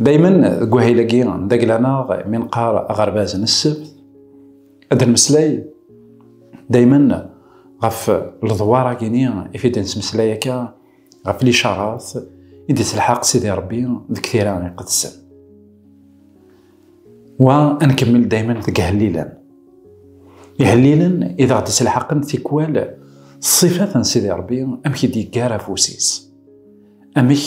Daymen deg wahil-agi n dagla-neɣ mi nqar aɣerbaz n ssebt, ad nmeslay daymen ɣef ledwar-agini i t-id nettmeslay akka ɣef licarat i d-yettelḥaq Sidi Rebbi deg tira iqedsen. Wa ad nkemmel daymen deg ihellilen. Ihellilen i d aɣ-d-yettelḥaqen tikwal ṣṣifat n Sidi Rebbi amek i d-yeggar afus-is. Amek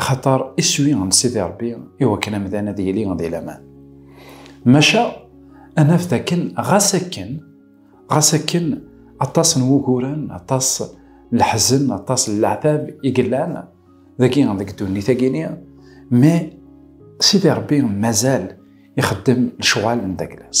axaṭer iswi n Sidi Ṛebbi i wakken amdan ad yili di laman. Maca ad naf dakken ɣas akken, ɣas akken aṭas n wuguren, aṭas n leḥzen, aṭas n leɛtab i yellan dagi deg ddunit-agi-ni, mi Sidi Ṛebbi mazal ixeddem lecɣal n daglas.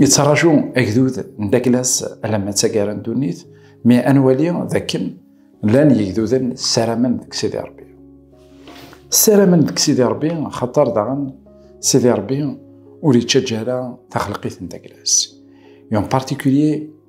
Yettraǧu agdud n Daglas alamma d taggara n ddunit, mi ad nwali dakken llan yegduden ssaramen deg Sidi Rebbi. Ssaramen deg Sidi Rebbi xaṭer daɣen Sidi Rebbi ur yettaǧǧa ara taxleqit n Daglas. Yon particulier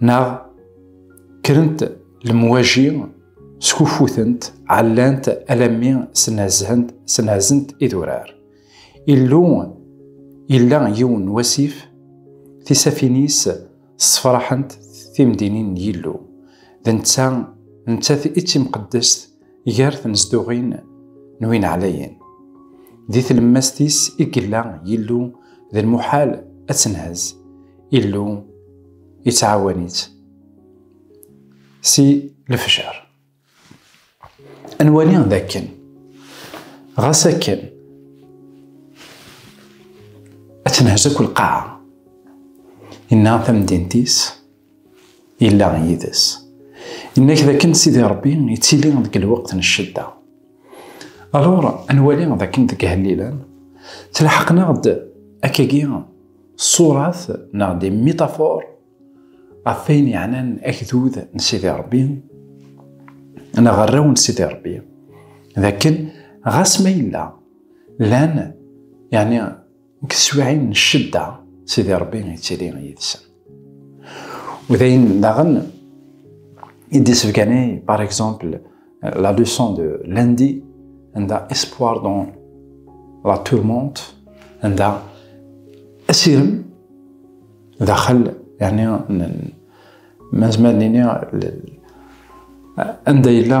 neɣ kkrent lemwaji skufutent ɛellant alammi snazhent snazent idurar illu illa yiwen wasif tisafinis sefraḥent timdinin n yillu d netta nettat i timqeddest gar tnezduɣin n win ɛlayen. Di tlemmast-is i yella Yillu d lmuḥal ad tenhez. Illu yettɛawan-itt si lefjer. Ad nwali d akken, ɣas akken ad tenhez akk lqaɛa, yenna tamdint-is, Yella yid-s. Yenna-k dakken Sidi Ṛebbi yettili deg lweqt n ccedda. Alur, ad nwali dakken deg ihellilen tlaḥqen-aɣ-d akkagi ṣṣurat neɣ di mitafor ɣef wayen yeɛnan agdud n Sidi Ṛebbi neɣ arraw n Sidi Ṛebbi dakken ɣas ma yella llan yani Deg teswiɛin n ccedda, Sidi Ṛebbi ittili yid-sen. U d ayen daɣen i d-yessebganay, par exemple, la leçon de lundi, anda espoir dans la tourmente, anda asirem daxel, yani mazmer nini anda yella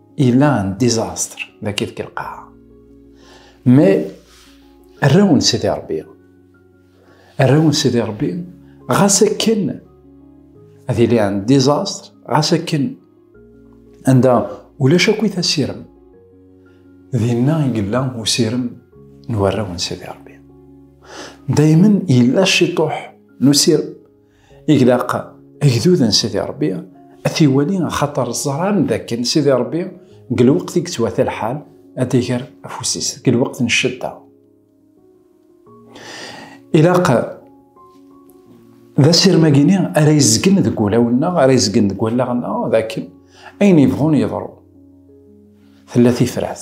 il a un désastre da kif kilqaha. Me rraw n Sidi Rebbi. Rraw n Sidi Rebbi ɣas akken ad yili un désastre ɣas akken anda ulac akk it asirem dinna i yella usirem n warraw n Sidi Rebbi. Daymen yella ciṭuḥ n usirem Iglaq agdud n Sidi Ṛebbi ad t-iwali axaṭer ẓran dakken Sidi Ṛebbi deg lweqt i yettwata lḥal ad d-iger afus-is deg lweqt n ccedda. Ilaq d asirem-agi-ni ara yezgen deg wulawen-nneɣ, ara yezgen deg wallaɣ-nneɣ dakken ayen yebɣun yeḍru. Tella tifrat.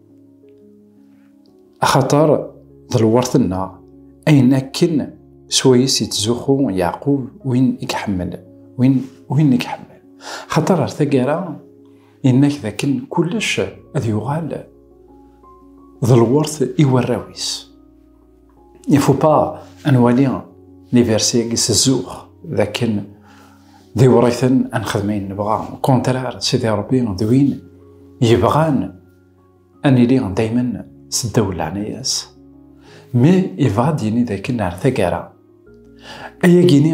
Axaṭer d lweṛt-nneɣ, ayen akken s wayes yettzuxxu Yeɛqub win i iḥemmel, win win i iḥemmel. Axaṭer ar taggara, yenna-k d akken kullec ad yuɣal d lweṛt i warraw-is. il faut pas à nwali les versets qui se zouh dakin di writen an xedmayen nebɣa au contraire sidi rebbi d win yebɣan an ili dayman s ddaw leɛnaya-s mais yebɣa ad yini dakin ar tagara ayagini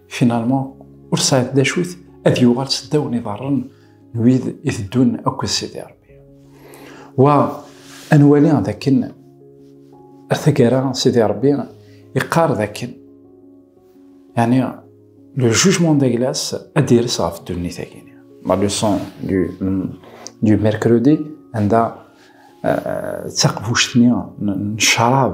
Finalement, ur sɛiḍ d acu-t ad yuɣal s ddaw n iḍarren n wid i teddun akked Sidi Rebbi. Wa, ad nwali d akken ar taggara Sidi Rebbi iqqar d akken, yani le jugement de glace ad d-ires ɣef ddunit-agi. La leçon du, du mercredi anda d taqbuct-nni n ccrab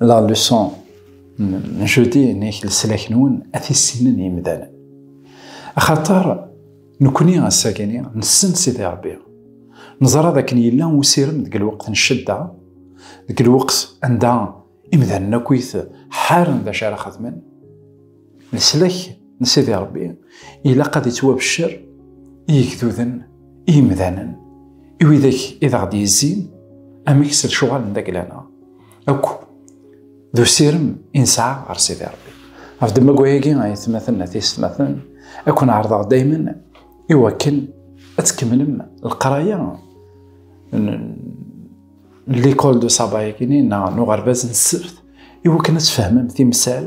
La leçon n jeudi n leslak-nwen ad t-issinen yimdanen. Axaṭer nekkni ass-agi nessen Sidi Ṛebbi. Neẓra d akken yella usirem deg lweqt n ccedda, deg lweqt anda imdanen akkit ḥaren d acu ara xedmen. Leslak n Sidi Ṛebbi ilaq ad ittwabeccer i yigduden, i yimdanen, i widak i d aɣ-d-yezzin amek s lecɣal n dagla-nneɣ akk d usirem i nesɛa ɣer Sidi Ṛebbi. Ɣef ddemma-agi, ay atmaten, ay tiysetmaten, ad ken-ɛerḍeɣ daymen i wakken ad tkemmlem leqraya l'école de sabbat-agi neɣ n uɣerbaz n ssebt i wakken ad tfehmem timsal